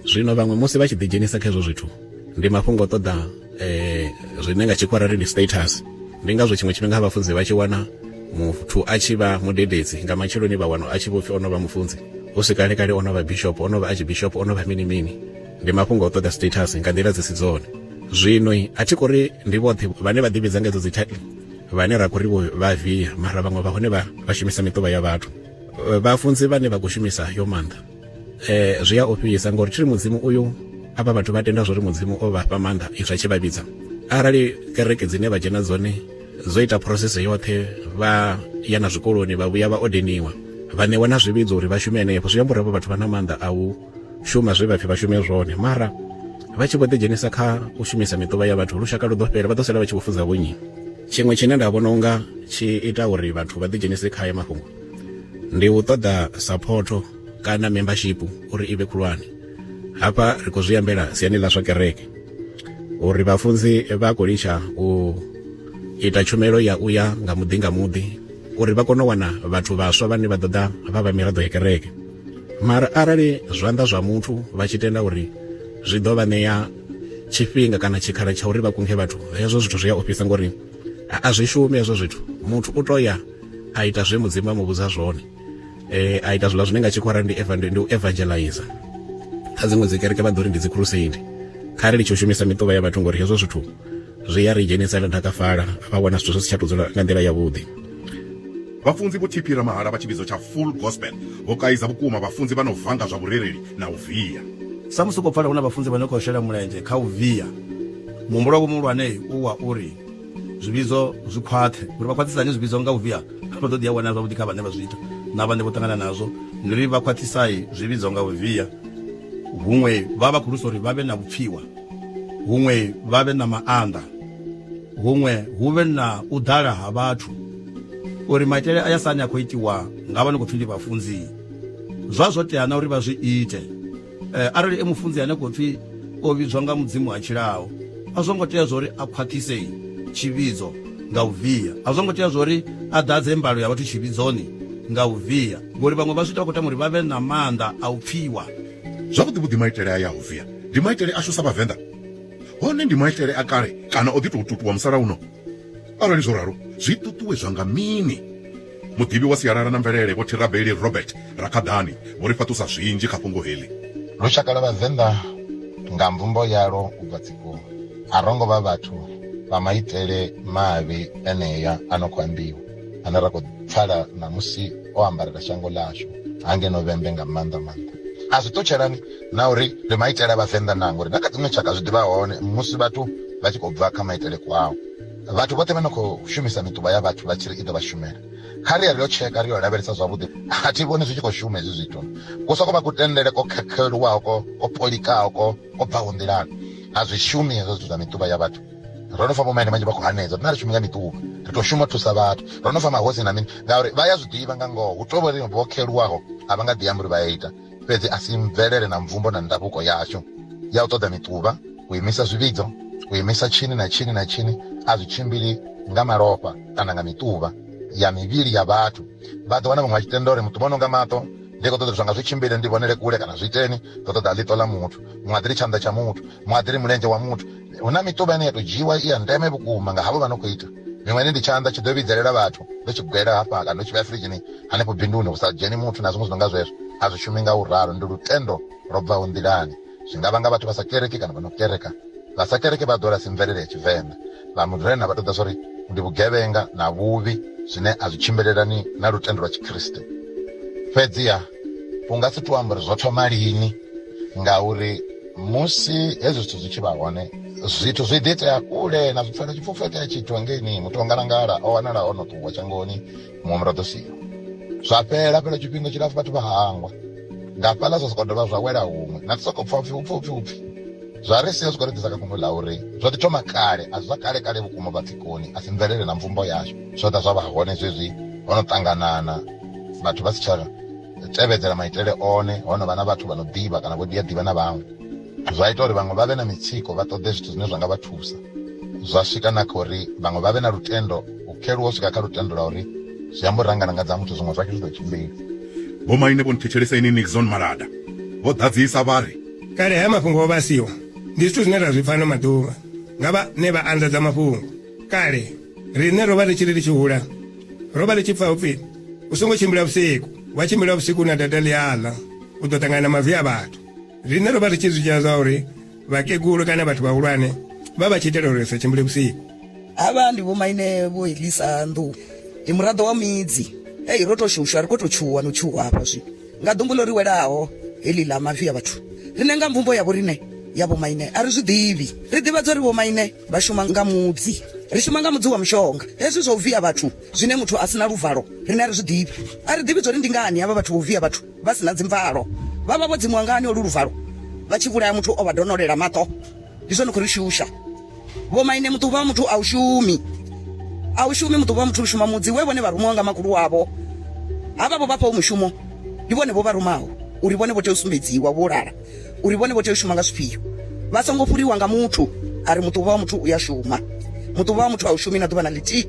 zwino vhaṅwe musi vha tshi ḓidzhenisa kha hezwo zwithu ndi mafhungo ṱoḓa eh, zwine nga tshikwara ri ndi status ndi ngazwo tshiṅwe tshifhinga ha vhafunzi vha tshi wana muthu a tshi vha mudededzi nga matsheloni vha wana a tshi vhopfi o no vha mufunzi hu si kale kale o no vha bishop o no vha archbishop o no vha mini mini ndi mafhungo o ṱoḓa status nga nḓila dzi si dzone zwino a thi kori ndi vhoṱhe vhane vha ḓivhidza nga edzo dzi title vhane ra khori vha via mara vhaṅwe vha hone vha shumisa miṱuvha ya vhathu vhafunzi vhane vha khou shumisa yo maanḓa eh zwi a ofhisa ngori tshiri mudzimu uyu avha vhathu vha tenda zwori mudzimu o vha fha maanḓa izwi a tshi vha vhidza arali kereke dzine vha dzhena dzone zwo ita process yoṱhe vha ya na zwikoloni vha vhuya vha odeniwa vha ṋewa na zwivhidzo uri vha shume henefho zwi amba uri havho vhathu vha na maanḓa a u shuma zwe vha pfhi vha shume zwone mara vha tshi vho ḓidzhenisa kha u shumisa miṱuvha ya vhathu lushaka lu ḓo fhela vha ḓo sala vha tshi vho fudza vhonyi tshiṅwe tshine nda vhona unga tshi ita uri vhathu vha ḓidzhenise kha haya mafhungo ndi u ṱoḓa saphotho kana membership uri i vhe khulwane hafha ri khou zwi ambela siani ḽa zwa kereke uri vhafunzi vha khou litsha u ita tshumelo ya u ya nga muḓi nga muḓi uri vha kone u wana vhathu vhaswa vhane vha ḓoḓa vha vha miraḓo ya kereke mara arali zwanḓa zwa muthu vha tshi tenda uri zwi ḓo vha ṋea tshifhinga kana tshikhala tsha uri vha kunge vhathu hezwo zwithu zwi a ofhisa ngori a zwi shumi hezwo zwithu muthu u to ya a ita zwe mudzimu a mu vhudza zwone eh, a ita zwiḽa zwine nga tshikwara ndi ndi u evangelize kha dziṅwe dzi kereke vha ḓo ri ndi dzi crusade kha ri litsho u shumisa miṱuvha ya vhathu ngori hezwo zwithu zwi ya ri dzhenisa na ḓakafala vha vhona zwithu zwi si tsha tou dzula nga nḓila yavhuḓi vhafunzi vho thiphira mahala vha tshivhidzo tsha full gospel vho kaiza vhukuma vhafunzi vha no vanga zwa vhurereli na u via samusi u khou pfala hu na vhafunzi vha no khou shela mulenzhe kha u via muhumbulo wa vho muhulwane u wa uri zwivhidzo zwi khwaṱhe uri vha khwaṱhisa hani zwivhidzo nga u via vha ḓo ḓi a wana zwavhuḓi kha vhane vha zwi ita na vhane vho ṱangana nazwo ndi uri vha khwaṱhisai zwivhidzo nga u via huṅwe vha vha khulusa uri vha vhe na vhupfiwa huṅwe vha vhe na maanḓa huṅwe hu vhe na u ḓala ha vhathu uri maitele a ya sani a khou itiwa nga vha ni khou pfhi ndi vhafunzi zwa zwo tea na uri vha zwi ite eh, arali e mufunzi ane khou pfi o vhidzwa nga mudzimu ha tshilaho a zwo ngo tea zwori a khwaṱhise tshivhidzo nga u via a zwo ngo tea zwori a ḓadze mbalo ya vhathu tshivhidzoni nga u via ngori vhaṅwe vha zwi ita khou tama uri vha vhe na maanḓa a u pfiwa zwavhuḓi vhuḓi maitele a ya u via ndi maitele ashu sa vhavenḓa hone ndi maitele a kale kana o ḓi tou tutuwa musalauno arali zwo ralo zwi ṱuṱuwedzwa nga mini muḓivhi wa sialala na mvelele vho thirabeli robert rakhaḓani vho ri fhaṱusa zwinzhi kha fhungo heḽi lushaka lwa vhavenḓa nga mvumbo yalo u bva tsikoni a ro ngo vha vhathu vha maitele mavhi enea a no khou ambiwa ane ra khou pfala ṋamusi o ambarela shango ḽashu hangeno vhembe nga maanḓa maanḓa a zwi ṱutshelani na uri ndi maitele a vhavenḓa na ngori na kha dziṅwe tshaka zwi ḓivha hone musi vhathu vha tshi khou bva kha maitele kwao vhathu vhoṱhe vha no khou shumisa mituba ya vhathu vha tshi ri i ḓo vha shumela kha ri ya ri yo tsheka ri yo lavhelesa zwavhuḓi a thi vhoni zwi tshi khou shuma hezwi zwithu ku soko vha kutendele ko khekheluwaho ko ko polikaho ko ko bvaho nḓilani a zwi shumi hezwo zwithu zwa mituba ya vhathu ro no fa vhomaine manzhi vha khou hanedza rina ri shumi nga mituba ri tou shuma thusa vhathu ro no fa mahosi na mini ngauri vha ya zwi ḓivha nga ngoho hu tovhori vho kheluwaho a vha nga ḓi amba uri vha ya ita fhedzi a si mvelele na mvumbo na ndavhuko yashu ya u ṱoḓa miṱuvha u imisa zwivhidzo u imisa tshini na tshini na tshini a zwi tshimbili nga malofha kana nga miṱuvha ya mivhili ya vhathu vha ḓo wana vhaṅwe vha tshi tenda uri muṱuvha no nga maṱo ndi khou ṱoḓa zwanga zwi tshimbile ndi vhonele kule kana zwi iteni ndo ṱoḓa ḽiṱo ḽa muthu muṅwe a ḓiri tshanḓa tsha muthu muṅwe a ḓiri mulenzhe wa muthu hu na miṱuvha ine ya tou dzhiiwa i ya ndeme vhukuma nga havho vha no khou ita Miṅweni ndi tshanḓa tshi ḓo vhidzelela vhathu ndo tshi gwela hafha kana ndo tshi vhea firidzhini hanefho binduni hu sa dzheni muthu na zwiṅwe zwi no nga zwezwo. A zwi shumi nga u ralo, ndi lutendo lwo bvaho nḓilani. Zwi nga vhanga vhathu vha sa kereki kana vha no kereka. Vha sa kereke vha ḓo lasi mvelele ya Tshivenḓa. Vha Murena vha ṱoḓa zwa uri ndi vhugevhenga na vhuvhi zwine a zwi tshimbilelani na lutendo lwa Tshikriste. Fhedziha u nga si tou amba uri zwo thoma lini. ngauri musi hezwi zwithu zwi tshi vha hone zwithu zwi ḓi itea kule na zwipfela tshipfufho itea tshithu hangeini muthu ongalangala o wanala o no ṱuwa shangoni muṅwe muraḓo siho zwa fhela fhela tshifhinga tshilapfu vhathu vha hangwa nga fhaḽa zwa soko dovha zwa wela huṅwe na soko pfha upfi upfi upfi upfi zwa ri sia zwi khou ri ḓisa kha fhungo ḽa uri zwo ḓi thoma kale a zwi zwa kale kale vhukuma vhatsikoni a si mvelele na mvumbo yashu zwo ḓa zwa vha hone zwezwi ho no ṱanganana vhathu vha si tsha tevhedzela maitele one ho no vha na vhathu vha no ḓivha kana vho dia ḓivha na vhaṅwe zwa ita uri vhaṅwe vha vhe na mitsiko vha ṱoḓe zwithu zwine zwa nga vha thusa zwa swika na kha uri vhaṅwe vha vhe na lutendo u kheluwa u swika kha lutendo lwa uri zwi amba uri rangana nga dza muthu zwiṅwe zwake zwi ḓo tshimbila vho maine vho nthetshelesa ini nixon malada vho ḓadzisa vha ri kale haya mafhungo o vhasiwa ndi zwithu zwine ra zwi pfa ano maḓuvha nga vhane vha anḓadza mafhungo kale Riṋe ro vha ri tshi ri ri tshi hula, ro vha ri tshi pfa hu pfi, U songo tshimbila vhusiku, wa tshimbila vhusiku u na data ḽi a ḽa, u ḓo ṱangana na mavi a vhathu. Riṋe ro vha ri tshi zwi dzhia zwa uri vhakegulu kana vhathu vhahulwane vha vha tshi itela uri ri sa tshimbile vhusiku. Havha ndi vhomaine Vho Elisa Nḓou, ndi muraḓo wa Midzi. Hei, ro tou shushwa, ri khou tou tshuwa no tshuwa hafha zwino nga ḓumbu ḽo ri welaho heḽi ḽa mavi a vhathu. Riṋe nga mvumbo ya vhoriṋe ya vhomaine a ri zwi ḓivhi. Ri ḓivhadzwa uri vhomaine vha shuma nga mudzi ri shuma nga mudzi wa mushonga hezwi zwa u via vhathu zwine muthu a sina luvalo rine a ri zwi ḓivhi a ri ḓivhi zwori ndi ngani havha vhathu vho via vhathu vha sina dzimvalo vha vha vho dzimuwa ngani olu luvalo vha tshi vhulaya muthu o vha donolela maṱo ndi zwone khou ri shusha vho maine muṱuvha wa muthu a u shumi a u shumi muṱuvha wa muthu u shuma mudzi we vhone vha rumiwa nga makulu wavho havha vho vhafhaho mushumo ndi vhone vho vha rumaho uri vhone vho tea u sumbedziwa vho lala uri vhone vho tea u shuma nga zwifhio vha songo fhuriwa nga muthu a ri muṱuvha wa muthu u ya shuma muṱuvha wa muthu a u shumi na ḓuvha na ḽithihi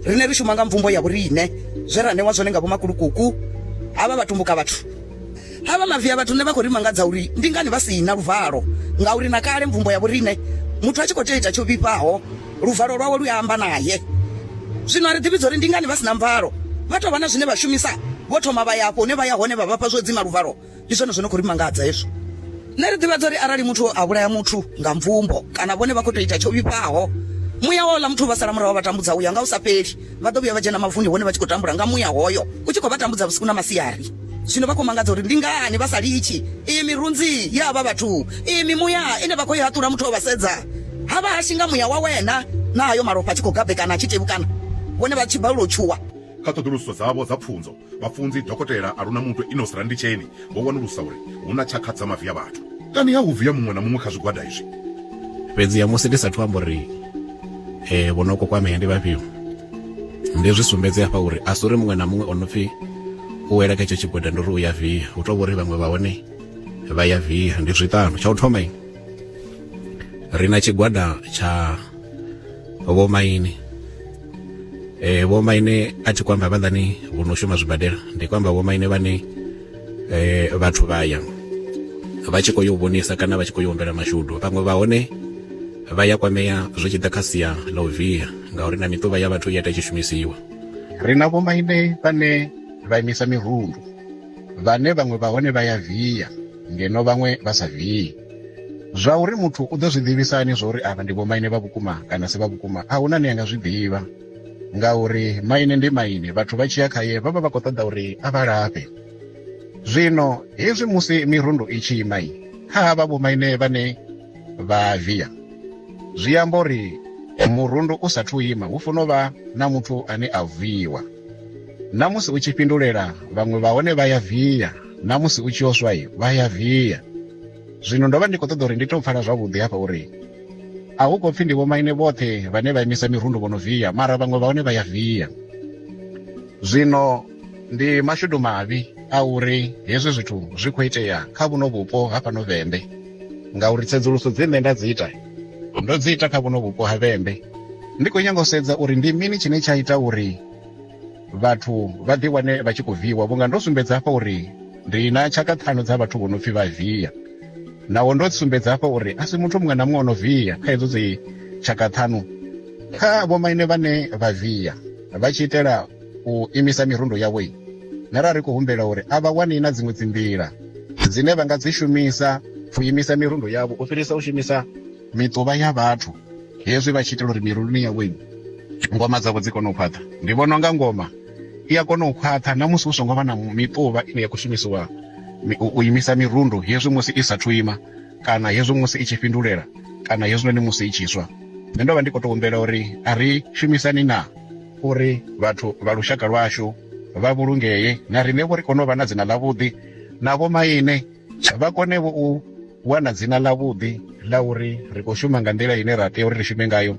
rine ri shuma nga mvumbo ya vhoriṋe zwe ra ṋewa zwone nga vhomakulukuku havha vha tumbuka vhathu havha mavi a vhathu nṋe vha khou ri mangadza uri ndi ngani vha si na luvalo ngauri na kale mvumbo ya vhoriṋe muthu a tshi khou tea ita tsho vhifhaho luvalo lwawe lu ya amba naye zwino a ri ḓivhidza uri ndi ngani vha si na mvalo vha tou vha na zwine vha shumisa vho thoma vha ya afho hune vha ya hone vha vhafha zwo dzima luvalo Ndi zwone zwo no khou ri mangadza hezwo. Nṋe ri ḓivhadza uri arali muthu a vhulaya muthu nga mvumbo kana vhone vha khou tou ita tsho vhifhaho, muya wa uḽa muthu u vha sala murahu wa vha tambudza u ya nga u sa fheli. Vha ḓo vhuya vha dzhena mavuni hone vha tshi khou tambula nga muya hoyo u tshi khou vha tambudza vhusiku na masiari. Zwino vha khou mangadza uri ndi ngani vha sa litshi iyi mirunzi ya havha vhathu, iyi mimuya ine vha khou i haṱula muthu o vha sedza ha vha hashi nga muya wa wena na hayo malofha a tshi khou gabekana a tshi tevhukana, vhone vha tshi balelwa u tshuwa. Kha ṱhoḓulusiso dzavho dza pfunzo, Vhafunzi Dokotela Arunamutwe Enos Randitsheni vho wanulusa uri hu na tshakha dza mavi a vhathu. Kani ha u via muṅwe na muṅwe kha zwigwada izwi. Fhedziha musi ndi sathu amba uri e, vho no kokwamea ndi vhafhio, ndi zwi sumbedze hafha uri a si uri muṅwe na muṅwe o no pfi u wela kha itsho tshigwada ndi uri u ya via. Hu tou vha uri vhaṅwe vha hone vha ya via. Ndi zwiṱanu. Tsha u thoma ri na tshigwada tsha vhomaine eh vho maine a tshi kwamba vhaḽani vho no shuma zwibadela ndi kwamba vho maine vhane eh vhathu vha ya vha tshi khou yo vhonisa kana vha tshi khou yo humbela mashudu vhaṅwe vha hone vha ya kwamea zwi tshi ḓa kha sia ḽa u via ngauri na miṱuvha ya vhathu i ita i tshi shumisiwa ri na vho maine vhane vha imisa mirundu vhane vhaṅwe vha hone vha ya via ngeno vhaṅwe vha sa vii zwa uri muthu u ḓo zwi ḓivhisa hani zwa uri avha ndi vhomaine vha vhukuma kana si vha vhukuma a huna ni anga zwi ḓivha ngauri maine ndi maine vhathu vha tshiya khaye vha vha vha khou ṱoḓa uri a vha lafhe zwino hezwi musi mirundu i tshi imai kha havha vhomaine vhane vha via zwi amba uri murundu u sathu ima hu funa u vha na muthu ane a viiwa na musi u tshi fhindulela vhaṅwe vha hone vha ya via na musi u tshi yo swa vha ya via zwino ndo vha ndi khou ṱoḓa uri ndi to pfala zwavhuḓi hafha uri a hu khou pfhi ndi vhomaine vhoṱhe vhane vha imisa mirundu vho no via mara vhaṅwe vha hone vha ya via zwino ndi mashudu mavhi a uri hezwi zwithu zwi khou itea kha vhuno vhupo ha fhano vhembe ngauri tsedzuluso dzi nṋe nda dzi ita ndo dzi ita kha vhuno vhupo ha vhembe ndi khou nyanga u sedza uri ndi mini tshine tsha ita uri vhathu vha ḓi wane vha tshi khou viiwa vhunga ndo sumbedza hafha uri ndi na tshaka ṱhanu dza vhathu vho no pfi vha via naho ndo sumbedza hafha uri a si muthu muṅwe na muṅwe o no via kha hedzo dzi tshaka ṱhanu kha vhomaine vhane vha via vha tshi itela u imisa mirundo yavho na ra ri khou humbela uri a vha wani na dziṅwe dzi nḓila dzine vha nga dzi shumisa u imisa mirundo yavho u fhirisa u shumisa miṱuvha ya vhathu hezwi vha tshi itela uri miruluni yavho ngoma dzavho dzi kone u khwaṱha ndi vhona unga ngoma i a kona u khwaṱha na musi hu songo vha na miṱuvha ine ya khou shumisiwa u imisa mirundu hezwi musi i sathu ima kana hezwi musi i tshi fhindulela kana hezwinoni musi i tshi swa nṋe ndo vha ndi khou tou humbela uri a ri shumisani na uri vhathu vha lushaka lwashu vha vhulungee na riṋe vho ri kone u vha na dzina ḽavhuḓi na vhomaine vha kone vho u wana dzina ḽa vhuḓi ḽa uri ri khou shuma nga nḓila ine ra tea uri ri shume ngayo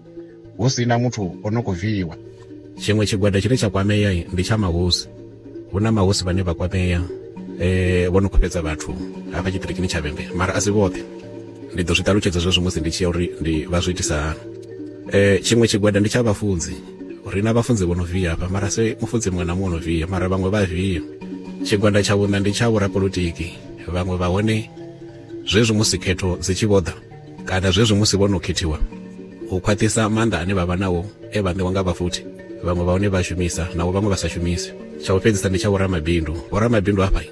hu si na muthu o no khou viiwa tshiṅwe tshigwada tshine tsha kwamea ndi tsha mahosi hu na mahosi vhane vha kwamea um eh, vho no khou fhedza vhathu hafha tshiṱirikini tsha vhembe mara a si vhoṱhe ndi ḓo zwi ṱalutshedza zwezwo musi ndi tshi ya uri ndi vha zwi itisa hani um tshiṅwe tshigwada ndi tsha vhafunzi ri na vhafunzi vho no viya hafha mara se mufunzi muṅwe na muṅwe no viya mara vhaṅwe vha viya tshigwanda tsha vhuṋa ndi tsha vhorapolotiki vhaṅwe vha hone zwezwi musi khetho dzi tshi vhoḓa kana zwezwi musi vho no khethiwa u khwaṱhisa maanḓa ane vha vha nao e vha ṋewa nga vhafuthi vhaṅwe vha hone vha shumisa naho vhaṅwe vha sa shumisi tsha u fhedzisa ndi tsha vhoramabindu vhoramabindu hafha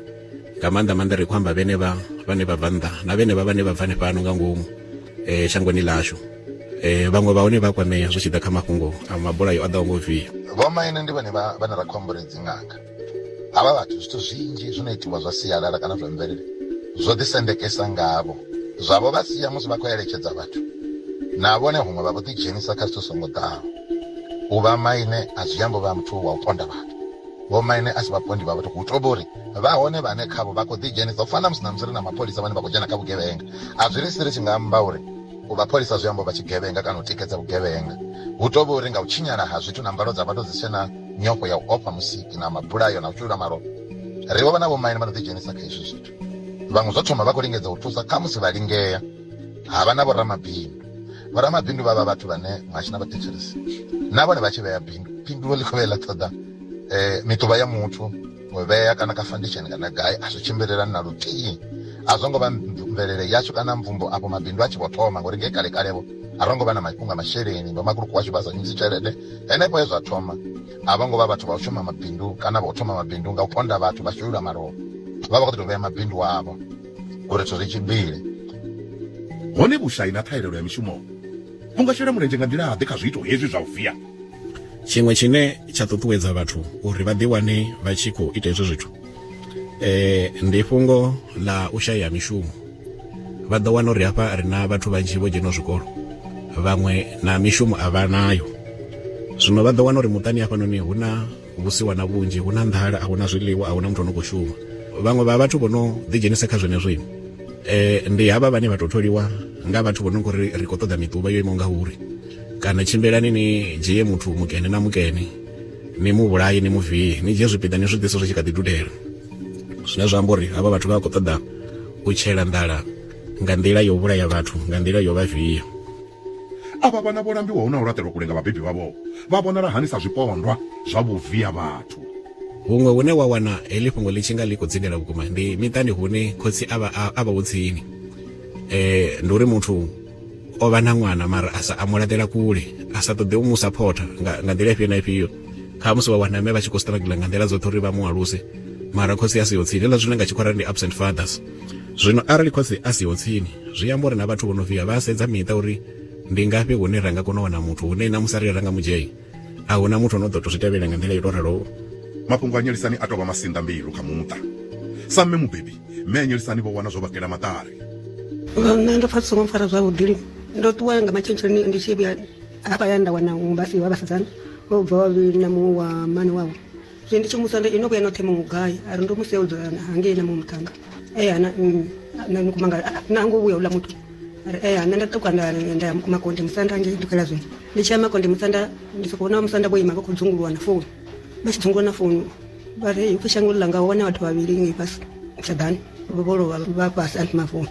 nga maanḓa maanḓa ri khou amba vhene vha vhane vha bva nnḓa na vhene vha vhane vha bva hanefhano nga ngomu um shangoni ḽashu eh vhaṅwe vha hone vha kwamea zwi tshi ḓa kha mafhungo a mabulayo a ḓaho ngo via vhomaine ndi vhone vhane ra khou ambore dzinganga havha vhathu zwithu zwinzhi zwi no itiwa zwa sialala kana zwa mvelele zwo ḓisendekesa ngavho zwavho vha sia musi vha khou eletshedza vhathu na vhone huṅwe vha vho ḓidzhenisa kha zwithu songo ḓaho u vha maine a zwi ambo vha muthu wa u ponda vhathu vho maine a si vhapondi vha vhathu hu tobo uri vha hone vhane khavho vha khou ḓidzhenisa u fana na musi na musi ri na mapholisa vhane vha khou dzhena kha vhugevhenga a zwi ri si ri tshi nga amba uri u vha pholisa zwi amba u vha tshigevhenga kana u tikedza vhugevhenga hu tou vha uri nga u tshinyala ha zwithu na mbalo dza vhathu dzi tshe na nyofho ya u ofha musiki na mabulayo na u shulula malofha ri vho vha na vhomaine vha no ḓidzhenisa kha hezwi zwithu vhaṅwe zwo thoma vha khou lingedza u thusa kha musi vha lingea ha vha na vhoramabindu vhoramabindu vha vha vhathu vhane mashina vha thetshelesi na vhone vha tshi vhea bindu phindulo ḽi khou vhe ḽa ṱoḓa um eh, miṱuvha ya muthu vhea kana ka foundation kana gai a zwi tshimbilelani na luthihi a zwo ngo vha mvelele yashu kana mvumbo afho mabindu a tshi vho thoma ngori nge kale kale vho a ro ngo vha na mafhungo a masheleni vho makhuluku washu vha sa shumisi tshelede henefho he zwa thoma a vho ngo vha vhathu vha u shuma mabindu kana vha u thoma mabindu nga u ponda vhathu vha shulula malofha vha vha khou tou vhea mabindu wavho uri zwithu zwi tshimbile hone vhushai na ṱhahelelo ya mishumo vhu nga shela mulenzhe nga nḓila ḓe kha zwiito hezwi zwa u via tshiṅwe tshine tsha ṱuṱuwedza vhathu uri vha ḓiwane vha tshi khou ita hezwo zwithu eh ndi fhungo ḽa u shaya mishumo vha ḓo wana uri hafha ri na vhathu vhanzhi vho dzhena zwikolo vhaṅwe na mishumo a vha nayo zwino vha ḓo wana uri muṱani hafhanoni hu na vhusiwa na vhunzhi hu na nḓala a hu na zwiḽiwa a hu na muthu ano khou shuma vhaṅwe vha vhathu vho no ḓidzhenisa kha zwenezwo ini eh, ndi havha vhane vha tou tholiwa nga vhathu vho no ngori ri khou ṱoḓa miṱuvha yo imaho nga uri kana tshimbilani ni dzhie muthu mukene na mukene ni mu vhulaye ni mu vie ni dzhie zwipiḓa ni zwi ḓise zwi tshi kha ḓi dudela zwine zwa amba uri havha vhathu vha khou ṱoḓa u tshela nḓala nga nḓila yo vhulaya vhathu nga nḓila yo vha viya Avha vhana vho lambiwaho na u laṱelwa kule nga vhabebi vhavho vha vhonala hani sa zwipondwa zwa vhuvia vhathu? Huṅwe hune wa wana heḽi fhungo ḽi tshi nga ḽi khou dzindela vhukuma ndi miṱani hune khotsi a vha a vhaho tsini. Ndi uri muthu o vha na ṅwana mara a sa a mu laṱela kule, a sa ṱoḓe u mu saphotha nga nga nḓila ifhio na ifhio. Khamusi wa wana mme vha tshi khou struggle nga nḓila dzoṱhe uri vha mu aluse mara khotsi a siho tsini, hezwiḽa zwine nga Tshikhuwa ra ri ndi absent fathers. Zwino arali khotsi a siho tsini, zwi amba uri na vhathu vho no vhiya vha sedza miṱa uri ndi ngafhi hune ra nga kona u wana muthu hune na musi arali ra nga mu dzhia, a hu na muthu o no ḓo tou zwi tevhela nga nḓila yo tou raloho. Mafhungo a Nyelisani a tou vha masinḓa mbilu kha muṱa. Sa mme mubebi, mme a Nyelisani vho wana zwo vha kela maṱari. Nga nṋe ndo pfa zwi songo mpfara zwavhuḓi lini. Ndo ṱuwa nga matsheloni ndi tshi vhuya hafha hayani nda wana vhafhiwa vhasidzana vho bvaho vhavhili na muṅwe wa mmane wavho. zve ndi tshi musa ndo ino vhuya noṱhe muṅwe gai a ri ndo musi ya u dzula hangei na muṅwe muṱhanga e ana na mukumanga na ngo vhuya uḽa muthu ari e ana nda ṱuka nda nda ya mukuma konde musanda ngei dukela zwino ndi tshi ya makonde musanda ndi sokou vhona musanda vho ima vha khou dzunguluwa na founu vha tshi dzunguluwa na founu vha ri upfi shango ḽanga ho wana vhathu vhavhili ngei fhasi tshadani vho lovha vha fhasi anti mafuni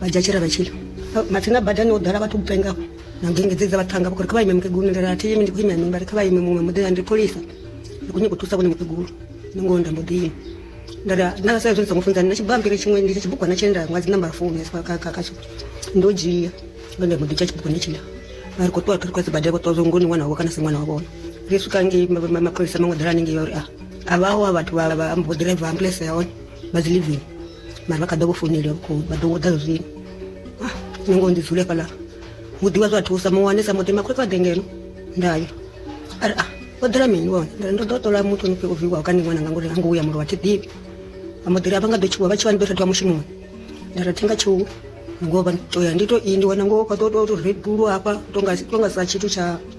vha dzhia tshira vha tshila mathina badani ho ḓala vhathu kupenga na ngenge dze dza vhathanga vhakuri kha vha ime mukegulu ndela a thi imi ndi khou imea mivhari kha vha ime muṅwe muḓela ndi pholisa ndi khou nyanga u thusa vhone mukegulu ndi ngoho nda mbo ḓi ime ndala nda sa izwi ndi songo funzani na tshibambiri tshiṅwe ndi tshibugwana tshine nda ṅwa dzi nambara founu khatsho ndo dzhia ndo mbo ḓi dzhia tshibugwana tshiḽa vha ri khou ṱuwa thuri kwa sibadela vho ṱuwa zwo ngoni ṅwana wavho kana si ṅwana wa vhona ri swika ngei mapholisa maṅwe ḓela hanengei ya uri a a vhaho a vhathu vha mbo ḓiraiva ambuḽese ya hone vha dzi living mara vha kha ḓa vho founeliwa vhukuma vha ḓo ḓa zwino ah, nṋe ngo ndi dzule fhaḽa hu ḓivha zwa thusa muwane sa muḓi makhotsi vha ḓe ngeno ndayo a ri a ah, o ḓela mini vhone ndari ndo ḓo ṱola muthu ni fhe o viwaho kana ṅwana nga ngori ha ngo uya mulo wa thi ḓivhi vha mbo ḓiri a vha nga ḓo tshuwa vha tshi vha ni ḓo thathiwa mushumoni ndari thi nga tshuwa ngo vha to ya ndi to i ndi wana ngo fha to to red bull hafha to nga to nga sa tshithu tsha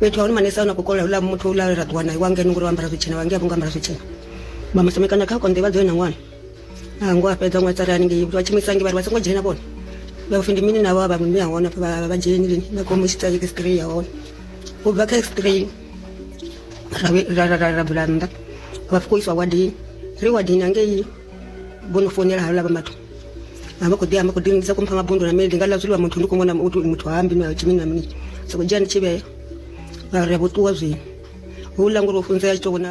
fhethu ha hone manese ano khou kola uḽa muthu uḽa ra ṱuwa nae wa ngeno ngori wa ambara zwitshena wa ngea vhunga ambara zwitshena vha musemekana kha konḓe vha dzo ena ṅwana a ngo a fhedza ṅwatsa ri haningei vha tshimisangi vhari vha songo dzhena vhone vha pfi ndi mini navho a vha mme ya hone vha vha dzheni lini vha khou musitsa ke straight ya hone u bva kha straight ra ra ra ra bula nnḓa vha fukiswa wadini ri wadini angei vho no founela haula vha mathu a vha khou ḓi amba khou ḓinisa kumpha nga bondo na mini ndi nga ḽa zwiḽiwa muthu ndi khou mona muthu muthu hambi na tshimi na mini soko dzhia ndi tshivhea ra ri vho ṱuwa zwino houḽa ngori wo funzea tshi to vhona